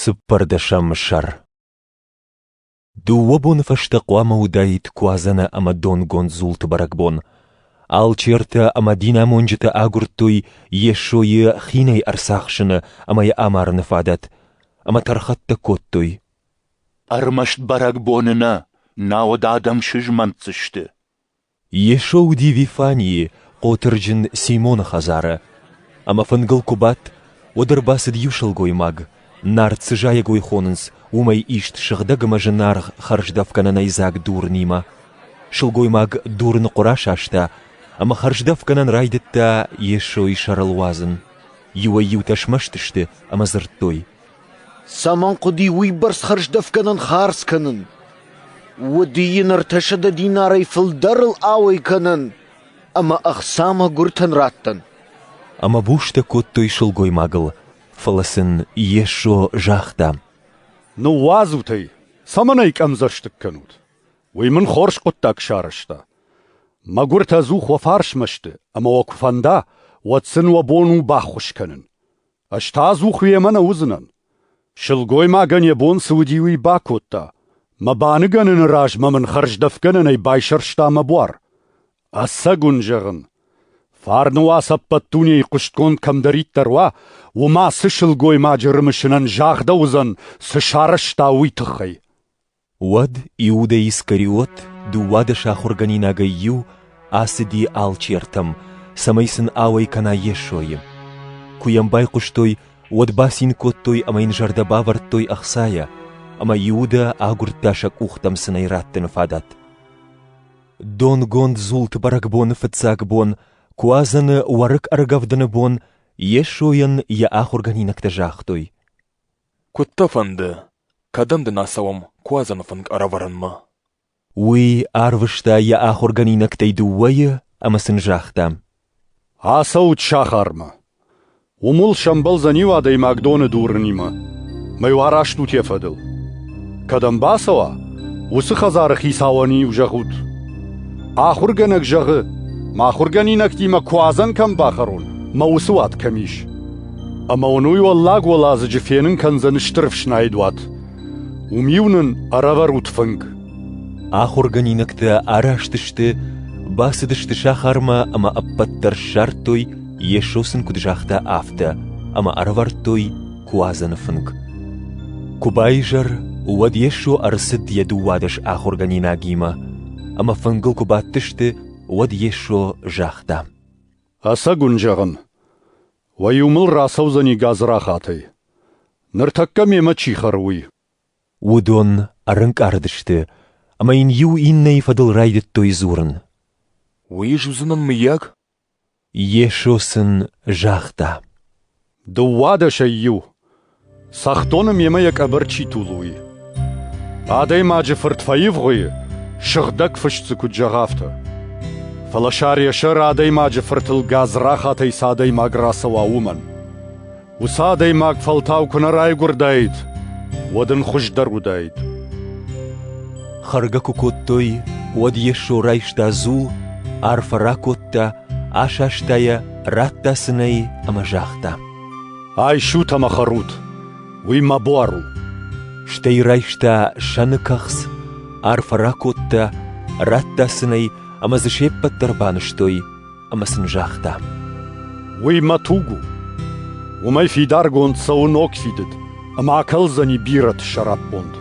Цыппӕрдӕсӕм сӕр Дыууӕ боны фӕстӕ хъуамӕ уыдаид Куадзӕны ӕмӕ донгонд дзулты бӕрӕгбон. Алчертӕ ӕмӕ динамонджытӕ агуырдтой Йесойы хинӕй ӕрцахсыны ӕмӕ йӕ амарыны фадат, ӕмӕ тӕрхӕттӕ кодтой. Ӕрмӕст бӕрӕгбоны нӕ, науӕд адӕм сызмӕнтдзысты. Йесо уыди Вифанийы, хъотырджын Симоны хӕдзары. Ӕмӕ фынгыл куы бадт, уӕд ӕрбацыд иу сылгоймаг, Нард цы зайӕгой хонынц, уымӕй ист сыгъдӕг ӕмӕ зынаргъ хӕрздӕфгӕнӕнӕй дзаг дурынимӕ. Сылгоймаг дурын хъуыр асаста, ӕмӕ хӕрздӕфгӕнӕн райдыдта Йесойы сӕрыл уадзын. Иуӕй-иутӕ смӕсты сты ӕмӕ дзырдтой: Цӕмӕн хъуыди уыйбӕрц хӕрздӕфгӕнӕн хардз кӕнын? Уыди йын ӕртӕсӕдӕ динарӕй фылдӕрыл ауӕй кӕнӕн ӕмӕ ӕхца мӕгуыртӕн раттӕн. Ӕмӕ бустӕ кодтой сылгоймагыл, фӕлӕ сын Йесо загъта: «Ныууадзут ӕй, цӕмӕн ӕй къӕмдзӕстыг кӕнут? Уый мын хорз хъуыддаг сарӕзта. мӕгуыртӕ ӕдзух уӕ фарсмӕ сты, ӕмӕ уӕ куы фӕнда, уӕд сын уӕ бон у баххуыс кӕнын. Ӕз та ӕдзух уемӕ нӕ уыдзынӕн. Сылгоймагӕн йӕ бон цы уыди, уый бакодта. Мӕ баныгӕныны размӕ мын хӕрздӕфгӕнӕнӕй байсӕрста мӕ буар. Ӕцӕг уын зӕгъын, фарны уац ӕппӕт дунейы хъуыстгонд кӕмдӕриддӕр уа, уым ацы сылгоймаджы рымысынӕн загъдӕуыдзӕн, цы сарӕзта, уый тыххӕй. Уӕд Иудӕ Искариот, дыууадӕс ахуыргӕнинагӕй иу, ацыди алчертӕм, цӕмӕй сын ауӕй кӕна Йесойы. Куы йӕм байхъуыстой, уӕд бацин кодтой ӕмӕ йын зӕрдӕ бавӕрдтой ӕхцайӕ, ӕмӕ Иудӕ агуырдта сӕ къухтӕм цынӕй раттыны фадат. Донгонд зулты бӕрӕгбоны фыццаг бон, куадзӕны уӕрыкк ӕргӕвдыны бон Йесойӕн йӕ ахуыргӕнинӕгтӕ загътой: Куыд дӕ фӕнды, кӕдӕм дын ацӕуӕм Куадзӕны фынг ӕрӕвӕрынмӕ? Уый арвыста йӕ ахуыргӕнинӕгтӕй дыууӕйы ӕмӕ сын загъта: «Ацӕут сахармӕ. Уым уыл сӕмбӕлдзӕн иу адӕймаг доны дурынимӕ. Мӕ-иу араст ут йӕ фӕдыл. Кӕдӕм бацӕуа, уыцы хӕдзары хицауӕн-иу зӕгъут. Ахуыргӕнӕг зӕгъы, мӕ ахуыргӕнинӕгтимӕ Куадзӕн кӕм бахӕрон, мӕ уыцы уат кӕм ис. Ӕмӕ уын уый уӕллаг уӕладзыджы фенын кӕндзӕн стыр ӕфснайд уат. Уым-иу нын ӕрӕвӕрут фынг. Ахуыргӕнинӕгтӕ араст сты, бацыдысты сахармӕ ӕмӕ ӕппӕт дӕр ссардтой, Йесо сын куыд загъта, афтӕ, ӕмӕ ӕрӕвӕрдтой куадзӕны фынг. Куы байзӕр, уӕд Йесо ӕрцыд йӕ дыууадӕс ахуыргӕнинагимӕ, ӕмӕ фынгыл куы бадтысты, уӕд Йесо загъта: Ӕцӕг уын зӕгъын, уӕ-иу мыл рацӕудзӕни гадзрахатӕй. Ныртӕккӕ мемӕ чи хӕры, уый. Уыдон ӕрынкъарыдысты ӕмӕ йын иу иннӕйы фӕдыл райдыдтой дзурын. Уый ис уыдзынӕн, мыййаг? Йесо сын загъта. Дыууадӕсӕй иу. Цӕхдоны мемӕ йӕ къӕбӕр чи тулуй. Адӕймаджы фырт фӕивгъуыйы, сыгъдӕг фыст дзы куыд зӕгъ афтӕ. Фӕлӕ сар-есӕр адӕймаджы фыртыл гадзрахатӕй цы адӕймаг рацӕуа, уымӕн. Уыцы адӕймаг фӕлтау куы нӕ райгуырдаид, уӕд ын хуыздӕр уыдаид. Хӕргӕ куы кодтой, уӕд Йесо райста дзул, арфӕ ракодта, асаста йӕ радта сын ӕй ӕмӕ загъта: «Айсут ӕмӕ хӕрут, уый мӕ буар у!» Стӕй райста сӕны кӕхц, арфӕ ракодта, радта сын ӕй ӕмӕ дзы се ппӕт дӕр банызтой ӕмӕ сын загъта: «Уый мӕ туг у. Уымӕй фидаргонд цӕуы ног фидыд ӕмӕ акӕлдзӕни бирӕты сӕраппонд.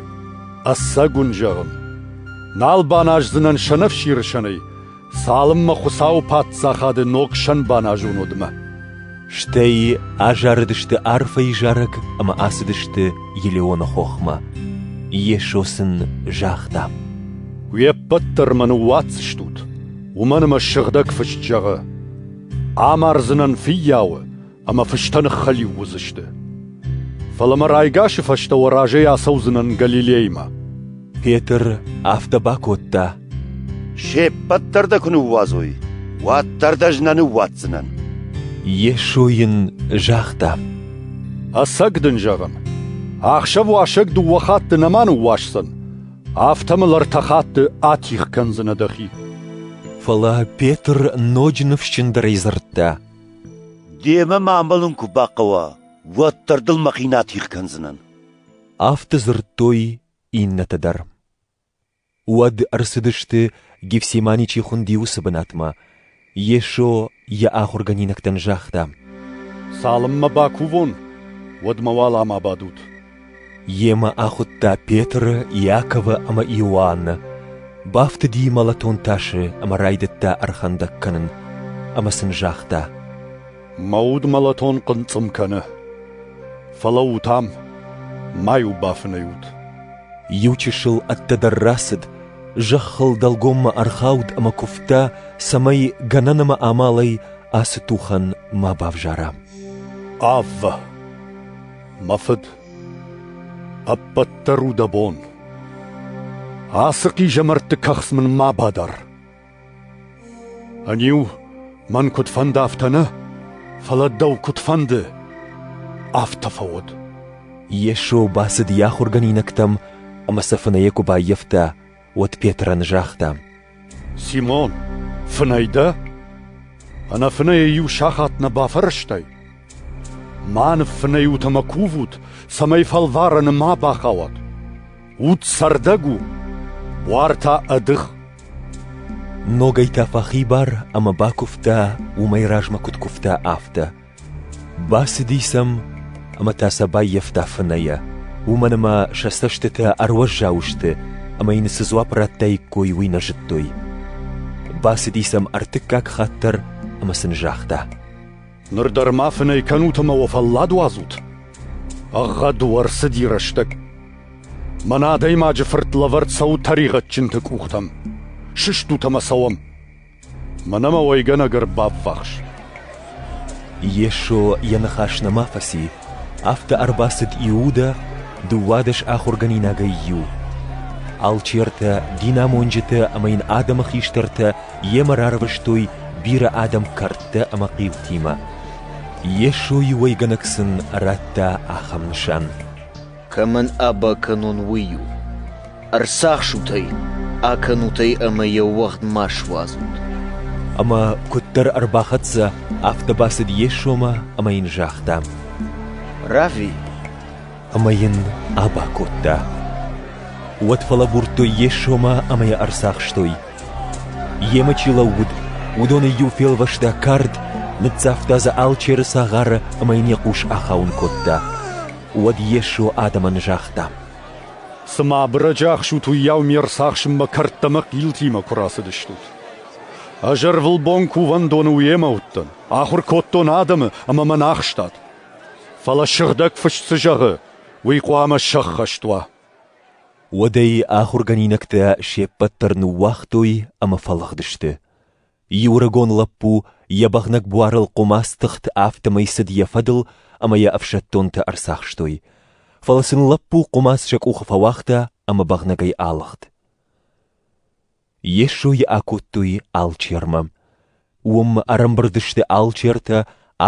Ӕцӕг уын зӕгъын, нал баназдзынӕн сӕнӕфсиры сӕнӕй, цалынмӕ Хуыцауы паддзахады ног сӕн баназон уӕдмӕ. Стӕй азарыдысты арфӕйы зарӕг ӕмӕ ацыдысты Елеоны хохмӕ. Йесо сын загъта: Уе ппӕт дӕр мӕ ныууадздзыстут, уымӕн ӕмӕ сыгъдӕг фыст зӕгъы: «Амардзынӕн фыййауы, ӕмӕ фыстӕ ныххӕлиу уыдзысты. Фӕлӕ мӕ райгасы фӕстӕ уӕ разӕй ацӕудзынӕн Галилеймӕ. Петр афтӕ бакодта. Се ппӕт дӕр дӕ куы ныууадзой, уӕддӕр дӕ ӕз нӕ ныууадздзынӕн. Йесо йын загъта. Ӕцӕг дын зӕгъын, ӕхсӕвуасӕг дыууӕ хатты нӕма ныууасдзӕн, афтӕ мыл ӕртӕ хатты атигъ кӕндзынӕ дӕхи. Фӕлӕ Петр ноджы ныфсджындӕрӕй дзырдта. Демӕ мӕ амӕлын куы бахъӕуа, уӕддӕр дыл мӕхи нӕ атигъ кӕндзынӕн. Афтӕ дзырдтой иннӕтӕ дӕр. Уӕд ӕрцыдысты, Гефсимани чи хуынди, уыцы бынатмӕ. Йесо йӕ ахуыргӕнинӕгтӕн загъта: «Цалынмӕ бакувон, уӕдмӕ уӕлӕмӕ бадут. Йемӕ ахуыдта Петры, Иаковы ӕмӕ Иоанны, бафтыди мӕлӕтон тасы ӕмӕ райдыдта ӕрхӕндӕг кӕнын, ӕмӕ сын загъта: Мӕ уд мӕлӕтон хъынцъым кӕны. Фӕлӕуут ам, ма-иу бафынӕйут. Иу чысыл ӕддӕдӕр рацыд, зӕххыл дӕлгоммӕ ӕрхауд ӕмӕ куывта, цӕмӕй гӕнӕн ӕмӕ амалӕй ацы тухӕн ма бавзара. Аввӕ! Мӕ фыд, ӕппӕт дӕр у дӕ бон. Ацы хъизӕмӕртты кӕхц мын ма бадар. Ӕниу мӕн куыд фӕнды, афтӕ нӕ, фӕлӕ дӕу куыд фӕнды, афтӕ фӕуӕд. Йесо бацыд йӕ ахуыргӕнинӕгтӕм ӕмӕ сӕ фынӕйӕ куы баййӕфта, уӕд Петрӕн загъта: Симон, фынӕй дӕ? Ӕнӕфынӕйӕ иу сахат нӕ бафӕрӕзтай? Мӕ ныффынӕй ут ӕмӕ кувут, цӕмӕй фӕлварӕны ма бахауат. Уд цӕрдӕг у, буар та ӕдых. Ногӕй та фӕхибар ӕмӕ бакуывта, уымӕй размӕ куыд куывта, афтӕ. Бацыди сӕм ӕмӕ та сӕ баййӕфта фынӕйӕ, уымӕн ӕмӕ сӕ цӕстытӕ ӕруӕззау сты ӕмӕ йын цы дзуапп радтаиккой, уый нӕ зыдтой. Бацыди сӕм ӕртыккаг хатт дӕр ӕмӕ сын загъта: «Ныр дӕр ма фынӕй кӕнут ӕмӕ уӕ фӕллад уадзут? Ӕгъгъӕд уӕ рцыди рӕстӕг. Мӕнӕ адӕймаджы фырт лӕвӕрд цӕуы тӕригъӕдджынты къухтӕм. Сыстут ӕмӕ цӕуӕм!» Мӕнӕ мӕ уӕйгӕнӕг ӕрбаввахс. Йесо йӕ ныхас нӕма фӕци, афтӕ ӕрбацыд Иудӕ, дыууадӕс ахуыргӕнинагӕй иу. Алчертӕ, динамонджытӕ ӕмӕ йын адӕмы хистӕртӕ йемӕ рарвыстой бирӕ адӕм кӕрдтӕ ӕмӕ хъилтимӕ. Йесойы уӕйгӕнӕг сын радта ахӕм нысан: Кӕмӕн аба кӕнон, уый у. Ӕрцахсут ӕй, акӕнут ӕй ӕмӕ йӕ уӕгъд ма суадзут. Ӕмӕ куыддӕр ӕрбахӕццӕ, афтӕ бацыд Йесомӕ ӕмӕ йын загъта: «Равви!» Ӕмӕ йын аба кодта. Уӕд фӕлӕбурдтой Йесомӕ ӕмӕ йӕ ӕрцахстой. Йемӕ чи лӕууыд, уыдоны иу фелвӕста кард, ныццавта дзы алчеры цагъары ӕмӕ йын йӕ хъус ахауын кодта. Уӕд Йесо адӕмӕн загъта, «Цымӕ абырӕджы ӕхсут, уыйау ме рцахсынмӕ кӕрдтӕ ӕмӕ хъилтимӕ куы рацыдыстут? Ӕз ӕрвылбон кувӕндоны уемӕ уыдтӕн, ахуыр кодтон адӕмы ӕмӕ мӕн ахстат. Фӕлӕ Сыгъдӕг Фыст цы зӕгъы, уый хъуамӕ сӕххӕст уа». Уӕдӕй ахуыргӕнинӕгтӕ се ппӕт дӕр ныууагътой ӕмӕ фӕлыгъдысты. Иурыгон лӕппу йӕ бӕгънӕг буарыл хъуымац тыхт, афтӕмӕй цыд йӕ фӕдыл ӕмӕ йӕ ӕфсӕддонтӕ ӕрцахстой. Фӕлӕ сын лӕппу хъуымац сӕ къухы фӕуагъта ӕмӕ бӕгънӕгӕй алыгъд. Йесойы акодтой алчермӕ. Уым ӕрӕмбырд сты алчертӕ,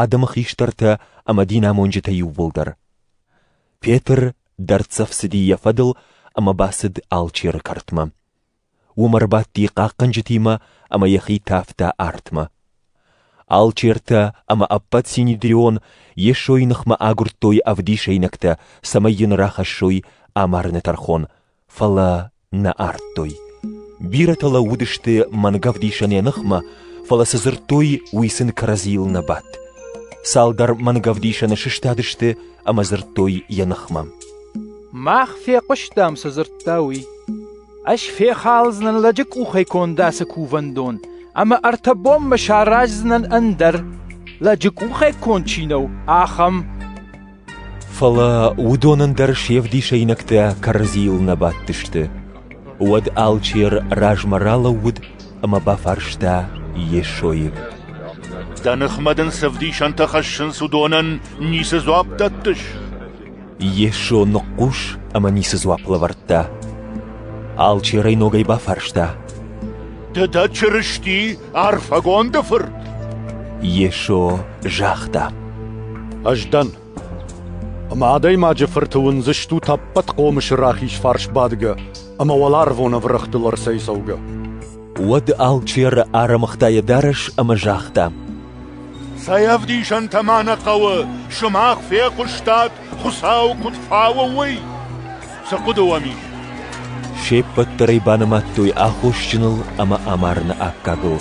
адӕмы хистӕртӕ ӕмӕ динамонджытӕ иууылдӕр. Петр дӕрддзӕф цыди йӕ фӕдыл ӕмӕ бацыд алчеры кӕртмӕ. Уым ӕрбадти хъахъхъӕнджытимӕ ӕмӕ йӕхи тавта артмӕ. Алчертӕ ӕмӕ ӕппӕт Синедрион Йесойы ныхмӕ агуырдтой ӕвдисӕйнӕгтӕ, цӕмӕй йын рахӕссой амарыны тӕрхон, фӕлӕ нӕ ардтой. Бирӕтӕ лӕууыдысты мӕнгӕвдисӕнӕй ныхмӕ, фӕлӕ цы дзырдтой, уый сын кӕрӕдзийыл нӕ бадт. Цалдӕр мӕнгӕвдисӕны сыстадысты ӕмӕ дзырдтой йӕ ныхмӕ. Мах фехъуыстам, цы дзырдта уый. Ӕз фехалдзынӕн лӕджы къухӕй конд ацы кувӕндон, ӕмӕ ӕртӕ бонмӕ сараздзынӕн ӕндӕр, лӕджы къухӕй конд чи нӕу, ахӕм. Фӕлӕ уыдонӕн дӕр се вдисӕйнӕгтӕ кӕрӕдзийыл нӕ бадтысты. Уӕд алчер размӕ ралӕууыд ӕмӕ бафарста Йесойы. «Дӕ ныхмӕ дын цы вдисӕнтӕ хӕссынц, уыдонӕн ницы дзуапп дӕттыс?» Йесо ныхъхъус ӕмӕ ницы дзуапп лӕвӕрдта. Алчерӕй ногӕй бафарста: «Ды дӕ Чырысти, Арфӕгонды Фырт?» Йесо загъта: «Ӕз дӕн. Ӕмӕ Адӕймаджы Фырты уындзыстут ӕппӕт хъомысы рахиз фарс бадгӕ ӕмӕ уӕларвон ӕврӕгътыл ӕрцӕйцӕугӕ. Уӕд алчеры ӕрымыгъта йӕ дарӕс ӕмӕ загъта: Цӕй ӕвдисӕнтӕ ма нӕ хъӕуы, сымах фехъуыстат, Хуыцау куыд фауы, уый? Цы хъуыды уӕм ис? Се ппӕт дӕр ӕй банымадтой аххосджыныл ӕмӕ амарыны аккагыл.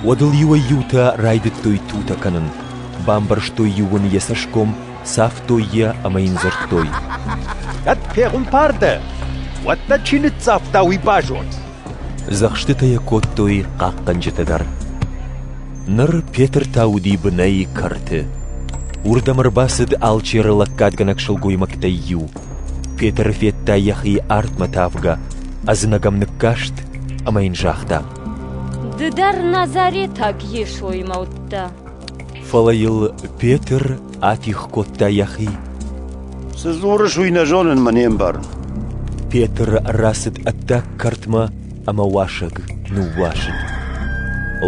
Уӕд ыл иуӕй-иутӕ райдыдтой тутӕ кӕнын, бамбӕрзтой иу ын йӕ цӕсгом, цавтой йӕ ӕмӕ йын дзырдтой: «Кӕд фегъуымпар дӕ, уӕд нӕ чи ныццавта, уый базон. Дзӕхстытӕ йӕ кодтой хъахъхъӕнджытӕ дӕр. Ныр Петр та уыди бынӕй кӕрты. Уырдӕм ӕрбацыд алчеры лӕггадгӕнӕг сылгоймӕгтӕй иу. Петр федта йӕхи артмӕ тавгӕ, ӕдзынӕгӕм ныккаст ӕмӕ йын загъта: «Ды дӕр назаретаг Йесоимӕ уыдтӕ?» фӕлӕ йыл Петр атигъ кодта йӕхи. Цы дзурыс, уый нӕ зонынмӕ не мбарын. Петр рацыд ӕддаг кӕртмӕ ӕмӕ уасӕг ныууасыд.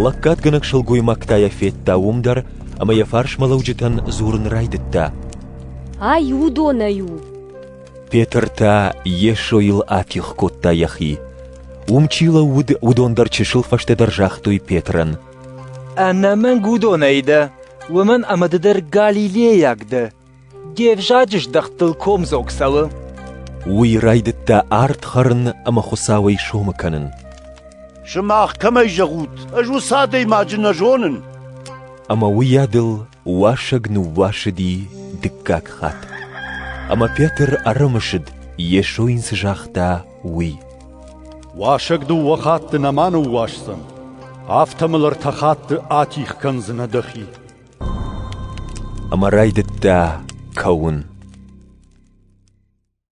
Лӕггадгӕнӕг сылгоймӕгтӕ йӕ федта уым дӕр ӕмӕ йӕ фарсмӕлӕуджытӕн дзурын райдыдта. Ай уыдонӕй у! Петр та Йесойыл атигъ кодта йӕхи. Уым чи лӕууыд, уыдон дӕр чысыл фӕстӕдӕр загътой Петрӕн: Ӕнӕмӕнг уыдонӕй дӕ, уымӕн ӕмӕ ды дӕр галилейаг дӕ. Де взаджы здӕхтыл комдзог цӕуы. Уый райдыдта ард хӕрын ӕмӕ Хуыцауӕй сомы кӕнын. Сымах кӕмӕй зӕгъут, ӕз уыцы адӕймаджы нӕ зонын. Ӕмӕ уыйадыл уасӕг ныууасыди дыккаг хатт. Ӕмӕ Петр ӕрымысыд, Йесо йын цы загъта, уый. Уасӕг дыууӕ хатты нӕма ныууасдзӕн, афтӕ мыл ӕртӕ хатты атих кӕндзынӕ дӕхи. Ӕмӕ райдыдта кӕуын.